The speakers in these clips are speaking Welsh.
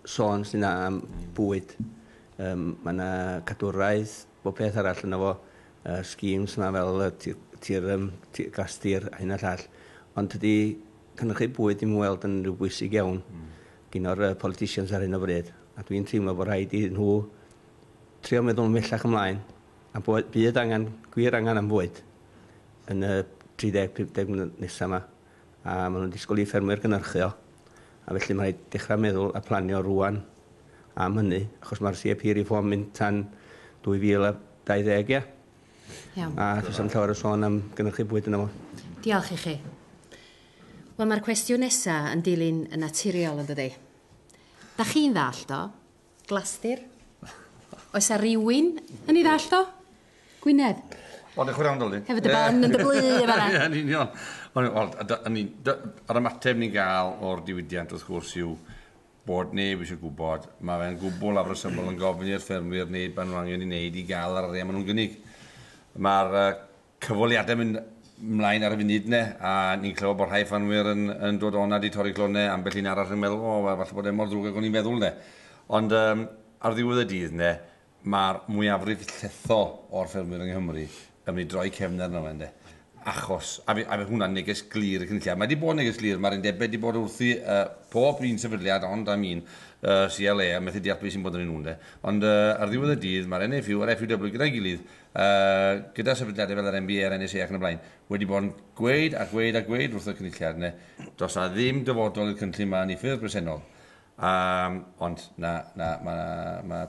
sôn sy'n dda am bwyd. Yym, mae yna cadwraeth, bob peth arall yna fo, y schemes yma fel y tir, tir, um, tir gastir a hyn a llall. Ond tydi cynnychu bwyd ddim yn weld yn rhyw bwysig iawn mm. gyn o'r uh, politicians ar hyn o bryd. A dwi'n teimlo bod rhaid i nhw trio meddwl mellach ymlaen a bod, bydd angen, gwir angen am fwyd yn y 30-50 nesaf yma. a maen nhw'n disgwyl i ffermwyr gynhyrchu o, a felly mae'n rhaid dechrau meddwl a planio rŵan am hynny, achos mae'r CAP Reform mynd tan 2020, ie? Iawn. A does am llawer o sôn am gynhyrchu bwyd yna fo. Diolch i chi. Wel, mae'r cwestiwn nesaf yn dilyn yn naturiol, yn dydi? Da chi'n ddallt o? Glastir. Oes 'a rywun yn ei ddallt o? Gwynedd. O, diolch yn fawr iawn, Dolly. Hefyd y barn yn dy blu yn fan'na. Ie, yn union. Wel, yr ymateb ni'n gael o'r diwydiant, wrth gwrs, yw bod neb eisiau gwybod. Mae fe'n gwbl afresymol yn gofyn i'r ffermwyr wneud beth nhw'n angen i wneud i gael yr arian maen nhw'n gynnig. Mae'r cyfweliadau mynd mlaen ar y funud ne a ni'n clywed bod rhai ffanwyr yn, yn dod o'na di torri glonau ambell un arall yn meddwl o wel falle bod e mor ddrwg ag o'n i'n feddwl ne ond um, ar ddiwedd y dydd ne mae'r mwyafrif llethol o'r ffermwyr yng Nghymru yn mynd i droi cefn arno fe ne achos a fe, a fe hwnna'n neges glir y cynulliad mae wedi bod neges glir mae'r undebau wedi bod wrthi uh, pob un sefydliad ond am un uh, CLA a methu deall beth sy'n bod yn ei nhw'n de ond uh, ar ddiwedd y dydd mae'r NFU a'r FUW gyda'i gilydd a gyda sefydliadau fel yr NBA a'r NSA ac yn y blaen, wedi bod yn gweud a gweud a gweud wrth y Cynulliad, na, does na ddim dyfodol i'r cynllun ma yn ei ffurf bresennol. Um, ond, na, na, mae ma,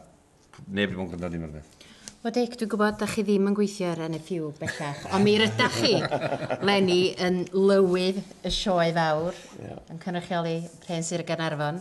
neb wedi bod yn gwrando dim rhywbeth. Wel Dic, dwi'n gwybod da chi ddim yn gweithio ar NFU bellach, ond mi rydach chi, Lenny, yn lywydd y sioe fawr, yeah. yn cynrychioli Rhen Sir Gaernarfon.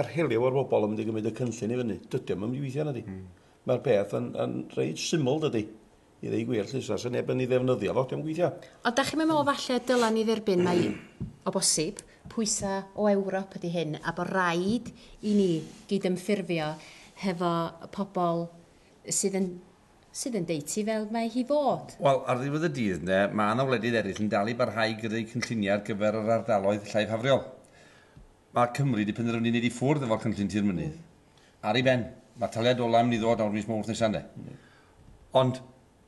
yr heliw o'r bobl yn mynd i gymryd y cynllun i fyny. Dydy o'n mynd i weithio na di. Mm. Mae'r peth yn, yn reit syml dydy. I ddeu gwir, llys, os neb yn ei ddefnyddio fo, diolch gweithio. O, da chi'n meddwl falle dylen ni dderbyn mai o bosib pwysau o Ewrop ydy hyn a bod rhaid i ni gydymffurfio hefo pobl sydd yn sydd yn deud ti fel mae hi fod. Wel, ar ddiwedd y dydd, ne, mae yna wledydd eraill yn dal i barhau i greu cynlluniau ar gyfer yr ardaloedd llaifhafriol. Mae Cymru wedi penderfynu wneud i ffwrdd efo'r cynllun Tir Mynydd. Ar ei ben. Mae'r taliad ola' yn mynd i ddod nawr mis Mawrth nesa' ynde? Ond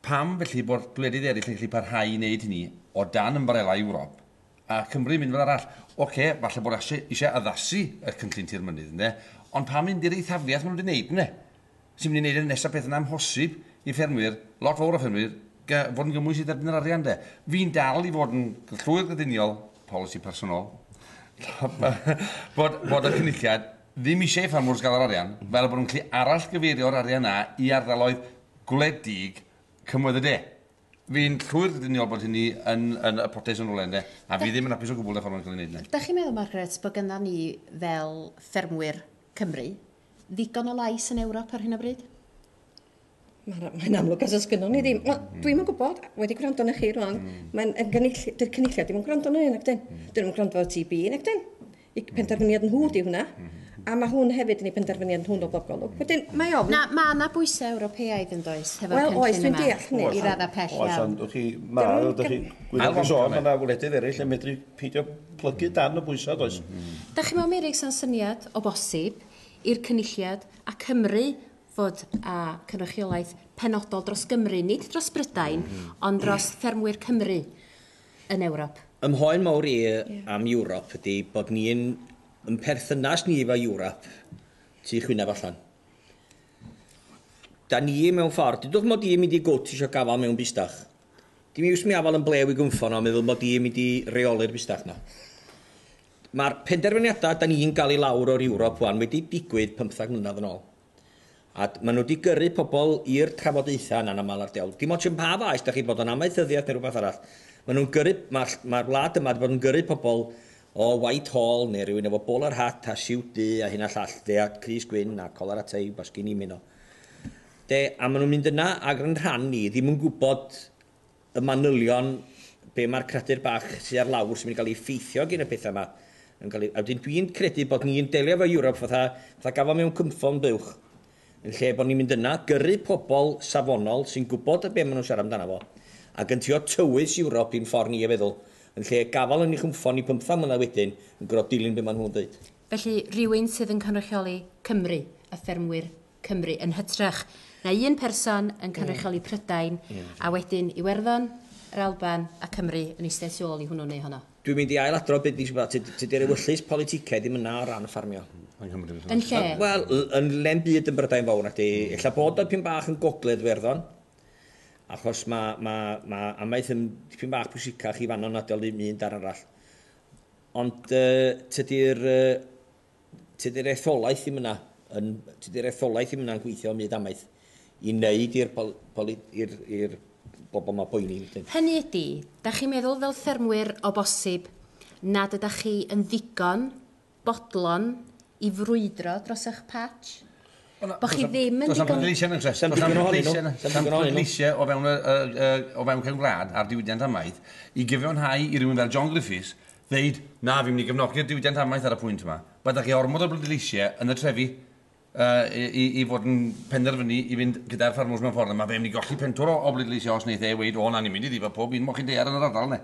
pam felly bod gwledydd eraill yn gallu parhau i wneud hynny o dan ymbarela Ewrop, a Cymru yn mynd fel arall? Ocê, falle bod Asia eisiau addasu y cynllun Tir Mynydd ynde, ond pam mynd i'r eithafiaeth maen nhw wedi wneud ynde? sy'n mynd i wneud y nesaf peth yn amhosib i ffermwyr, lot fawr o ffermwyr, ga- fod yn gymwys i dderbyn yr arian de. Fi'n dal i fod yn llwyr grediniol, polisi personol, bod, bod y cynulliad ddim eisiau i ffermwrs gael yr arian, fel bod nhw'n gallu arallgyfeirio'r arian na i ardaloedd gwledig cymoedd y de. Fi'n llwyr grediniol bod hynny yn, yn y potes yn rhywle de, a fi ddim yn hapus o gwbl y ffordd mae'n cael ei wneud yna. Dach chi'n meddwl, Margaret, bod gyda ni fel ffermwyr Cymru, ddigon o lais yn Ewrop ar hyn o bryd? Mae'n amlwg os oes gynnon ni ddim. Wel, mm. dwi'n yn gwybod, wedi gwrando na chi rwan, mm. mae'n gynulliad, dy'r cynulliad ddim yn gwrando na un ac dyn. Mm. Dyn nhw'n gwrando ar TB un ac dyn. I penderfyniad nhw di hwnna. A mae hwn hefyd yn ei penderfyniad nhw'n o bob golwg. Wedyn, mae ofn... Na, mae yna bwysau Ewropeaidd yn does, hefo'r well, cynllun yma. Wel, oes, dwi'n deall hynny. I radda pell iawn. Oes, ond chi, mae, ydych chi, gwyddoch chi sôn, mae yna wledydd eraill yn medru peidio plygu darn o bwysa does? Dach chi'n meddwl Meirig sa'n syniad, o bosib, i'r Cynulliad a Cymru fod â cynrychiolaeth penodol dros Gymru, nid dros Brydain, ond dros ffermwyr Cymru yn Ewrop? Ym mhoen mawr i am Ewrop ydi bod ni'n, yn perthynas ni efo Ewrop, tu chwynaf allan. Da ni mewn ffordd, dydwch mod i'n mynd i gwt isio gafal mewn bustach. Dim iws mi afal yn blew i gynffon a meddwl mod i yn mynd i reoli'r fusnes 'ma. Mae'r penderfyniadau 'da ni'n gael i lawr o'r Ewrop 'wan wedi digwydd pymthag mlynedd yn ôl. A maen nhw wedi gyrru pobl i'r trafodaethau yna'n aml ar dewl. Dim ots yn pa faes 'da chi, bod o'n amaethyddiaeth neu rhywbeth arall. Maen nhw'n gyrru... Mae'r mae'r wlad yma wedi bod yn gyrru pobl o Whitehall neu rhywun efo bowler hat a siwt du a hyn a llall de a crys gwyn a colar a tei, basgini, mino. De, a maen nhw'n mynd yna ac yn rhan ni ddim yn gwybod y manylion be mae'r cradur bach sydd ar lawr sy'n mynd i gael ei effeithio gin y pethau yma yn cael ei... A wedyn dwi'n credu bod ni'n delio efo Europe fatha, fatha gafon mewn cynffon buwch yn lle bod ni'n mynd yna, gyrru pobl safonol sy'n gwybod y be maen nhw'n siarad amdano fo ac yn trio tywys Europe i'n ffordd ni o feddwl yn lle gafael yn ei chynffon ni pymthag mlynedd wedyn yn gorfod dilyn be maen nhw'n dweud. Felly, rhywun sydd yn cynrychioli Cymru, y ffermwyr Cymru yn hytrach na un person yn cynrychioli Prydain a wedyn Iwerddon, yr Alban a Cymru yn eistedd tu ôl i hwnnw neu honno. Dwi'n mynd i ail-adrodd be dwi 'di bod yn feddwl. Tydi'r ewyllys politicaidd ddim yna o ran ffarmio. Yn lle? Wel, yn lle'm byd yn Brydain Fawr nacdi. Ella bod o dipyn bach yn gogledd Iwerddon, achos ma' ma' ma' amaeth yn dipyn bach pwysicach i fan'no nadi o le un darn arall. Ond yy tydi'r yy Tydi'r etholaeth ddim yna yn, tydi'r etholaeth ddim yna'n gweithio ym myd amaeth i wneud i'r pol, poli, i'r, i'r bobl yma boeni wedyn. Hynny ydi, dach chi'n meddwl fel ffermwyr o bosib nad ydach chi yn ddigon bodlon i frwydro dros eich patch? Bo' chi ddim yn ddigon... Does na'm pleidleisiau, does na'm pleidleisiau, does na'm pleidleisiau o fewn y, y, y, o fewn cefn gwlad ar diwydiant amaeth i gyfiawnhau i rywun fel John Griffiths Ddeud, 'Na, fi'n mynd i gefnogi'r diwydiant amaeth ar y pwynt yma. Mae 'da chi ormod o bleidleisiau yn y trefi yy i i fod yn penderfynu i fynd gyda'r ffarmwrs mewn ffordd, a mae fe'n mynd i golli pentwr o o bleidleisiau os wneith e weud, 'O na, ni'n mynd i ddifa pob un moch i daear yn yr ardal, neu.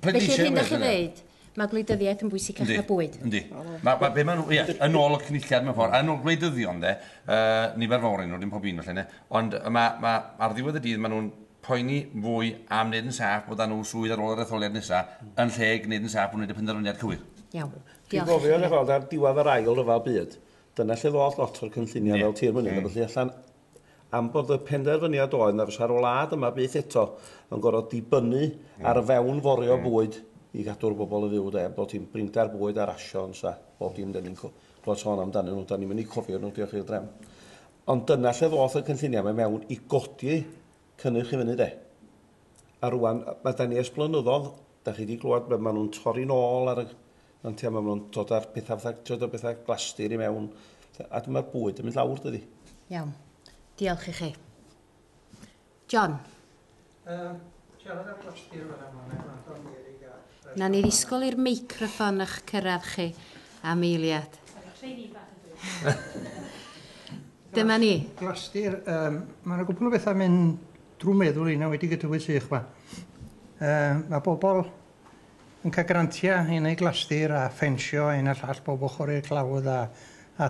Felly, yr hyn 'da chi'n ddeud, mae gwleidyddiaeth yn bwysicach na bwyd? Yndi, yndi. Ma' ma' be' ma' nhw, ie, yn ôl y Cynulliad mewn ffordd, yn ôl gwleidyddion de, yy nifer fawr ohonyn nhw, dim pob un falle ynde, ond ma' ma' ar ddiwedd y dydd ma' nhw'n poeni fwy am wneud yn saff bod â nhw swydd ar ôl yr etholiad nesaf, yn lle gwneud yn saff bod nhw'n gwneud y penderfyniad cywir. Iawn. Dwi'n gofio yn gweld ar diwedd yr ail ryfel byd, dyna lle ddoth lot o'r cynlluniau fel tir mynydd a ballu allan, am bod y penderfyniad oedd na fysa'r wlad yma byth eto yn gorfod dibynnu ar y fewn forio bwyd i gadw'r bobl yn fyw de, bod ti'n brinder bwyd a rasiwns a bob dim 'da ni'n clywed sôn amdanyn nhw, 'da ni'm yn eu cofio nhw, diolch i'r drefn. Ond dyna lle ddoth y cynlluniau mae mewn i godi cynnyrch i fyny de. A rwan, mae da ni ers blynyddodd, da chi wedi clywed, mae nhw'n torri'n ôl ar y nantiau, mae nhw'n dod ar pethau fatha, trio dod pethau glastir i mewn, a dyma'r bwyd yn mynd lawr dydi. Iawn. Diolch i chi. John. Nawn ni ddisgwyl i'r meicroffon ych cyrraedd chi am eiliad. Dyma ni. Glastir, um, mae yna gwbl o bethau mynd drwy meddwl i na wedi gydywydd sych ma. Um, mae bobl yn cael grantiau i wneud glastir a ffensio ein a llall bob ochr i'r clawdd a, a